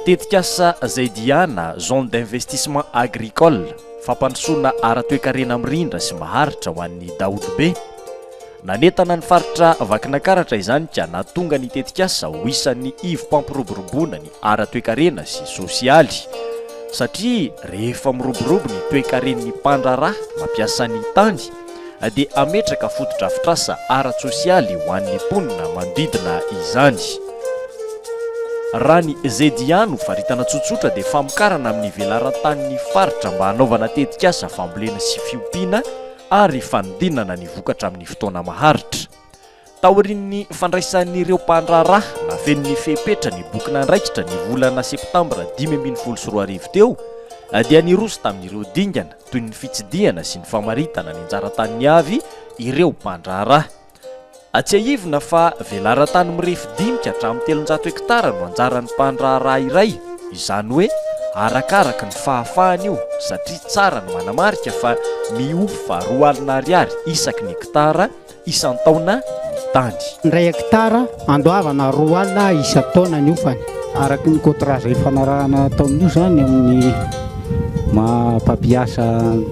Tetikasa Zaidiana, Zone d'investissement agricole, fampandrosoana ara-toekarena mirindra sy maharitra ho an'ny daholobe. Nanentana ny faritra Vakinankaratra izany ka nahatonga ny tetikasa ho isan'ny ivom-pampiroboroboana ny ara-toekarena sy sosialy satria rehefa miroborobo ny toekaren'ny mpandraharaha mampiasa ny tany dia hametraka fotodrafitrasa ara-tsosialy ho an'ny mponina manodidina izany. Raha ny ZIA no faritana tsotsotra dia famokarana amin'ny velaran-tanin'ny faritra mba hanaovana tetikasa fambolena sy fiompiana ary fanodinana ny vokatra amin'ny fotoana maharitra. Taorian'ny fandraisan'ireo mpandraharaha nafeno ny fepetra ny boky nandraikitra ny volana septambra dimy ambin'ny folo sy roa arivo teo, dia niroso tamin'ireo dingana toy ny fitsidihana sy ny famaritana ny anjara taniny avy ireo mpandraharaha. Tsiahivina fa velaran-tany mirefy dimy ka hatramin'ny telonjato hektara no anjaran'ny mpandraharaha iray, izany hoe arakaraka ny fahafahany io satria tsara ny manamarika fa mihofa roa alina ariary isaky ny hektara isan-taona ny tany. Indray hekitara andoavana roa alina isan-taona ny hofany. Araka ny kôntrà izay ifanarahana atao amin'io izany amin'ny maha mpampiasa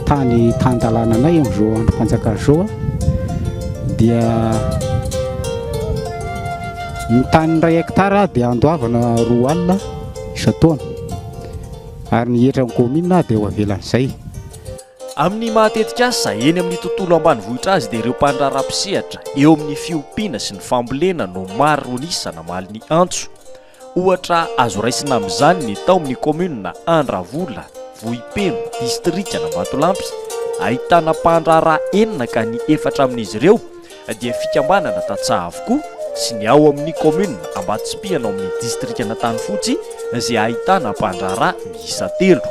tany tan-dalàna anay amin'izao andrim-panjakana izao dia ny tany iray hekitara dia andoavana roa alina isan-taona ary ny hetran'ny kaominina dia ho avelan'izay. Amin'ny maha tetikasa eny amin'ny tontolo ambanivohitra azy dia ireo mpandraharaha mpisehatra eo amin'ny fiompiana sy ny fambolena no maro an'isa namaly ny antso. Ohatra azo raisina amin'izany ny tao amin'ny kaominina Andravola, Vohipeno, distrikan'Ambatolampy, ahitana mpandraharaha enina ka ny efatra amin'izy ireo dia fikambanana tantsaha avokoa sy ny ao amin'ny kaominina Ambatotsimpihana ao amin'ny distrikan'Antanifotsy izay ahitana mpandraharaha miisa telo.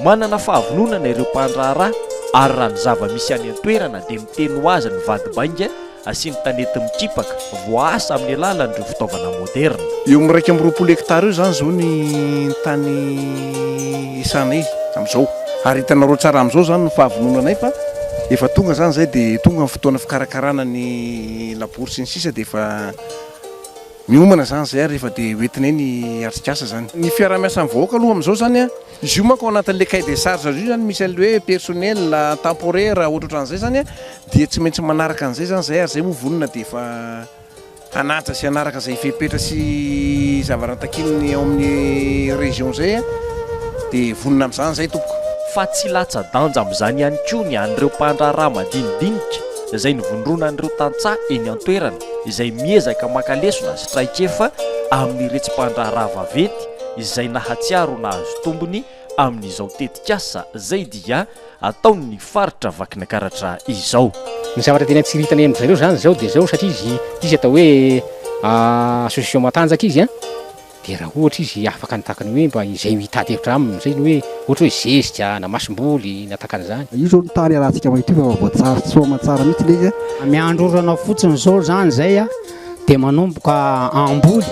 Manana fahavononana ireo mpandraharaha ary raha ny zava-misy any an-toerana dia miteny ho azy ny vady bainga sy ny tanety mikipaka voaasa amin'ny alalan'ireo fitaovana moderina. Eo amin'ny iraika amby roapolo hektara eo izany izao ny tany. Esanay amzao ary hitanareo tsara amzao izany no fahavononanay fa efa tonga izany izay dia tonga ny fotoana fikarakarana ny labory sy ny sisa dia efa miomana izany izay ary rehefa dia hoentinay ny atrikasa izany. Ny fiarahamiasan'ny vahoaka aloha amzao izany an, izy io manko ao anatin'ilay cahier des charges io izany misy an'ilay hoe personnel temporaire ohatrohatran'izay izany an dia tsy maintsy manaraka an'izay izany izay ary izay moa vonona dia efa. hanaja sy hanaraka izay fepetra sy zava-raha takian'ny ao amin'ny région izay a, dia vonona amin'izany izahay tompoko. Fa tsy latsa-danja amin'izany ihany koa ny an'ireo mpandraharaha madinidinika izay nivondrona an'ireo tantsaha eny an-toerana izay miezaka maka lesona sy traikefa amin'ny retsi-pandraharaha vaventy izay nahatsiaro nahazo tombony amin'izao tetikasa izay dia ataon'ny faritra Vakinakaratra izao. Ny zavatra tena tsiritana eny amin'izareo izany izao dia izao satria izy izy atao hoe association matanjaka izy an, dia raha ohatra izy afaka ny takany hoe mba izay hitady hevitra aminy izay ny hoe ohatra hoe zezika na masomboly na takan'izany. Io izao ny tany alantsika maintio fa efa voatsary soa aman-tsara mihitsy ilay izy an. Miandrorana fotsiny izao izany izay an. dia manomboka hamboly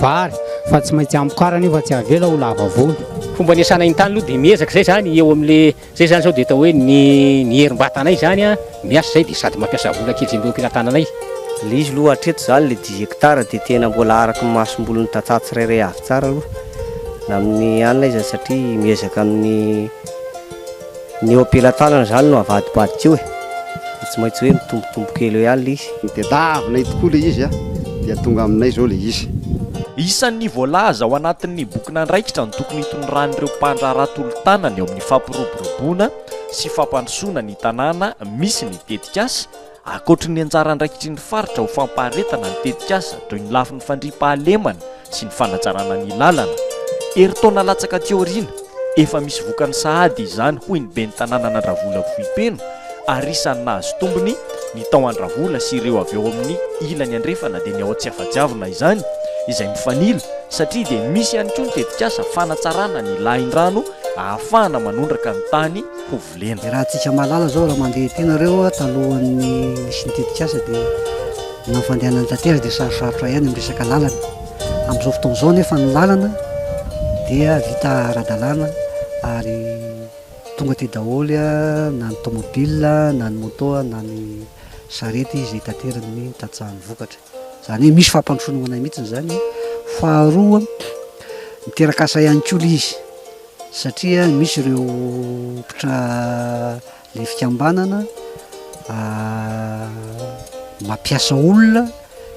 vary fa tsy maintsy hamokarany io fa tsy avela ho lava volo. Fomba anesana iny tany aloha dia miezaka izay izany eo amin'le izay izany izao dia atao hoe ny ny herim-batanay izany a miasa izay dia sady mampiasa vola kely izay mba eo am-pelatananay. Le izy aloha hatreto izany le dix hectares dia tena mbola araka ny masombolin'ny tantsaha tsirairay avy tsara aloha na amin'ny anona izany satria miezaka amin'ny Ny eo am-pelatanana izany no avadibadika eo e! Dia tsy maintsy hoe mitombotombo kely eo ihany ilay izy. Tadiavinay tokoa ilay izy dia tonga aminay izao ilay izy. Isan'ny voalaza ao anatin'ny bokin'andraikitra ny tokony hitondran'ireo mpandraharaha tolo-tanana eo amin'ny fampiroboroboana sy fampandrosoana ny tanàna misy ny tetikasa, Ankoatry ny anjara andraikitry ny faritra ho fampaharetana ny tetikasa toy ny lafiny fandriampahalemana sy ny fanajarana ny lalana, herintaona latsaka aty aoriana, efa misy vokany sahady izany hoy ny ben'ny tanànan'Andravola Vohipeno ary isan'ny nahazo tombony ny tao Andravola sy ireo avy ao amin'ny ilany andrefana dia ny ao Tsiafadiavina izany izay mifanila satria dia misy ihany koa ny tetikasa fanatsarana ny lahindrano ahafahana manondraka ny tany ho volena. Raha antsika mahalala izao raha mandeha ety nareo talohan'ny nisy ny tetikasa dia na ny fandehanan'ny tatera dia sarosarotra ihany amin'ny resaka lalana. Amin'izao fotoana izao nefa ny lalana dia vita ara-dalàna ary tonga aty daholo na ny tomobile na ny moto na ny sarety izay taterany ny tantsaha ny vokatra. Izany hoe misy fampandrosoana ho anay mihitsy izany. Faharoa, miteraka asa ihany koa ilay izy. satria misy ireo mpitra le fikambanana mampiasa olona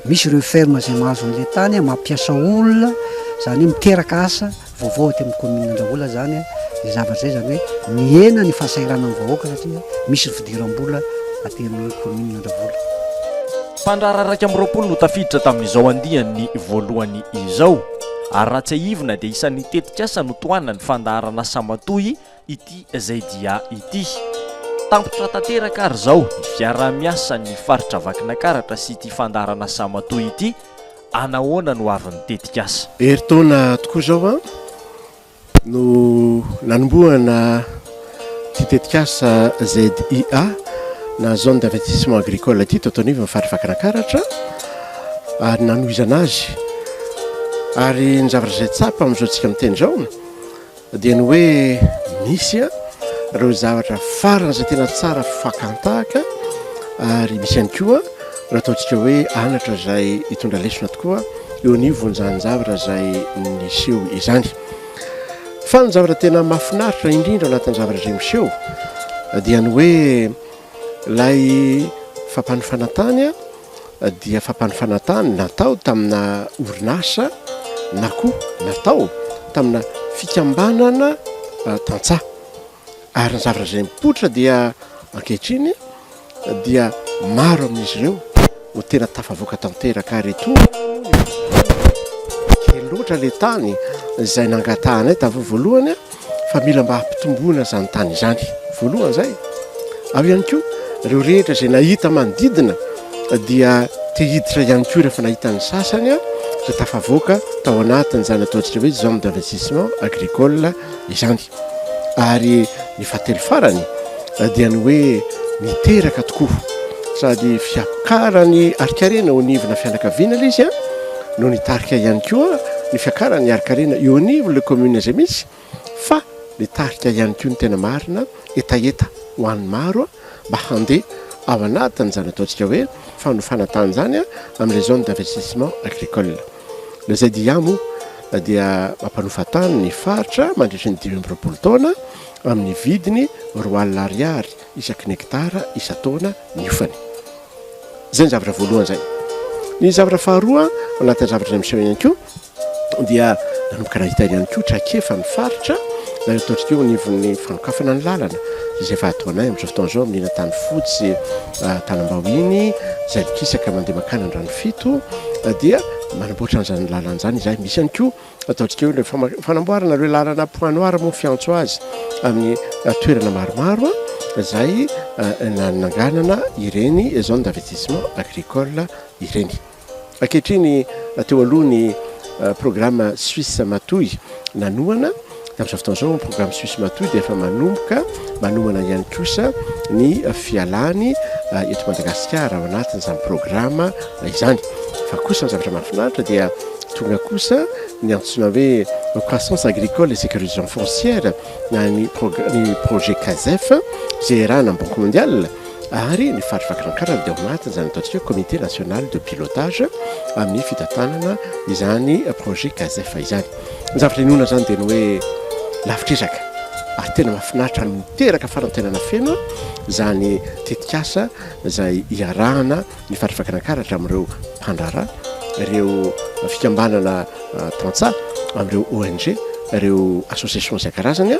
misy ireo ferme zay mahazo an'le tany mampiasa olona zany hoe miteraka asa vaovao aty amin'ny commune Andravola zany le zavatra zay zany hoe mihena ny fahasahiranan'ny vahoaka satria misy fidiram-bola aty amin'ny commune Andravola. Mpandraharaha iraika amby roapolo no tafiditra tamin'izao andiany voalohany izao ary raha tsiahivina dia isan'ny tetikasa notohanan'ny fandaharan'asa matoy ity ZDA ity. Tampitra tanteraka ary izao ny fiaraha-miasan'ny faritra Vakinankaratra sy ity fandaharan'asa matoy ity, anahoana no avin'ny tetikasa? Herintaona tokoa izao an! no nanombohana ity tetikasa ZIA na zone d'investissement agricole ity teto anivon'ny faritra Vakinankaratra ary nanohizana azy ary ny zavatra izay tsapa amin'izao tsika miteny izao dia ny hoe misy a ireo zavatra farana izay tena tsara fakantahaka ary misy ihany koa Raha ataontsika hoe anatra izay hitondra lesona tokoa eo anio vonjanjavatra izay niseho izany. Fa ny zavatra tena mafinaritra indrindra anatin'ny zavatra izay miseho dia ny hoe lay fampanofana tany dia fampanofana tany natao tamina orinasa na koa natao tamina fikambanana tantsaha ary ny zavatra izay mipoitra dia ankehitriny dia maro amin'izy ireo no tena tafavoaka tanteraka ary etoana kely loatra le tany izay nangatahanay tavo voalohany a fa mila mba hampitomboana izany tany izany voalohany izay aho ihany koa ireo rehetra izay nahita manodidina dia te hiditra ihany koa rehefa nahitan'ny sasany a izay tafavoaka tao anatin' izany ataontsika hoe zone d'investissement agricole izany ary ny fahatelo farany dia ny hoe miteraka tokoa sady fiakarany arikarena eo anivona fianakaviana ilay izy a no nitarika ihany koa ny fiakarany arikarena eo anivon' le commune izay misy fa nitarika ihany koa ny tena marina hetaheta ho an'ny maro a mba handeha ao anatin'izany ataontsika hoe fanofana tany izany a amin'ilay zone d'investissement agricole Ny ZIA moa dia mampanofa tany ny faritra mandritry ny dimy amby roapolo taona amin'ny vidiny roa alina ariary isaky ny hekitara isan-taona niofany. Izay ny zavatra voalohany izay. Ny zavatra faharoa anatin'ny zavatra izay miseho ihany koa dia nanomboka nahita ihany koa traikefa ny faritra na ataontsika eo anivon'ny fanokafana ny lalana izay efa ataonay amin'izao fotoana izao amin'ny tany fotsy ah, tanambao iny izay mikisaka mandeha makana ny rano Fito, dia manamboatra an'izany lalana izany izahay. Misy ihany koa ataontsika hoe fama- fanamboarana ireo lalana point noir moa fiantso azy amin'ny eh, toerana maromaro ah, izay eh, nananganana ireny zone d'investissement agricole ireny. Ankehitriny eh, teo aloha ny eh, programme Suisse Matoy nanohana Tamin'izao fotoana izao ny programme Suisse Matoy dia efa manomboka manomana ihany kosa ny fialany eto Madagasikara ao anatin'izany programme izany. Fa kosa ny zavatra mahafinaritra dia tonga kosa ny antsoina hoe croissance agricole et sécurisation foncière na ny projet CASEF izay iarahana amin'ny Banque mondiale ary ny faritra Vakinankaratra dia ao anatin'izany ataontsika hoe comité national de pilotage amin'ny fitantanana izany projet CASEF izany. Ny zavatra inoana izany dia ny hoe lavitra ezaka ary tena mahafinaritra ary miteraka fanantenana feno izany tetikasa izay iarahana ny faritra Vakinankaratra amin'ireo mpandraharaha, ireo fikambanana tantsaha, amin'ireo ONG, ireo associations isan-karazany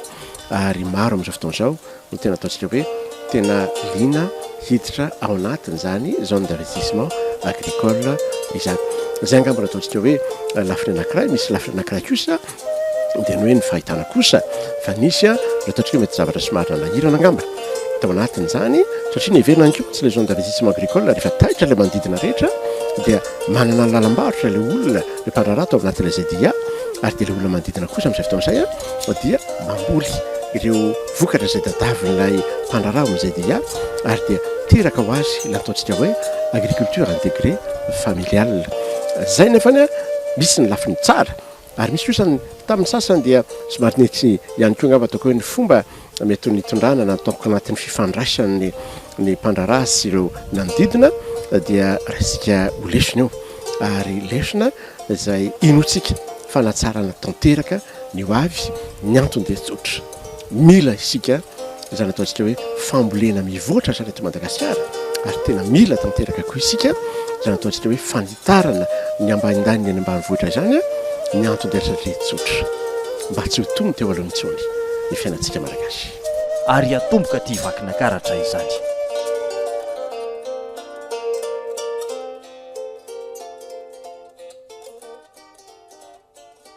ary maro amin'izao fotoana izao no tena ataontsika hoe tena liana hiditra ao anatin' izany zone d'investissement agricole izany. Izay angamba no ataontsika hoe lafiny anankiray, misy lafiny anankiray kosa dia ny hoe ny fahitana kosa fa nisy a ny ataontsika hoe mety zavatra somary nanahirana angamba tao anatin' izany satria ny heverina ihany koa tsy ilay zone d'investissement agricole rehefa taitra ilay manodidina rehetra dia manana ny lalam-barotra ilay olona ilay mpandraharaha tao anatin'ilay ZIA ary dia ilay olona manodidina kosa amin'izay fotoana izay a dia mamboly ireo Vokatra izay tadiavin'ilay mpandraharaha ao amin'izay dia hiato ary dia teraka ho azy ilay ataontsika hoe agriculture intégrée familiale. Izay nefa anie misy ny lafiny tsara ary misy kosa ny tamin'ny sasany dia somary nety ihany koa angamba ataoko hoe ny fomba mety ho nitondrana na ataoko anatin'ny fifandraisan'ny ny mpandraharaha sy ireo nanodidina dia raisika ho lesona io ary lesona izay inoantsika fanatsarana tanteraka ny ho avy. Ny antony dia tsotra. mila isika izany ataontsika hoe fambolena mivoatra izany eto Madagasikara ary tena mila tanteraka koa isika izany ataontsika hoe fanitarana ny ambanindaniny any ambanivohitra izany ny anton-dRZRE tsotra mba tsy ho tony teo aloha intsony ny fiainantsika malagasy ary hatomboka aty Vakinakaratra izany.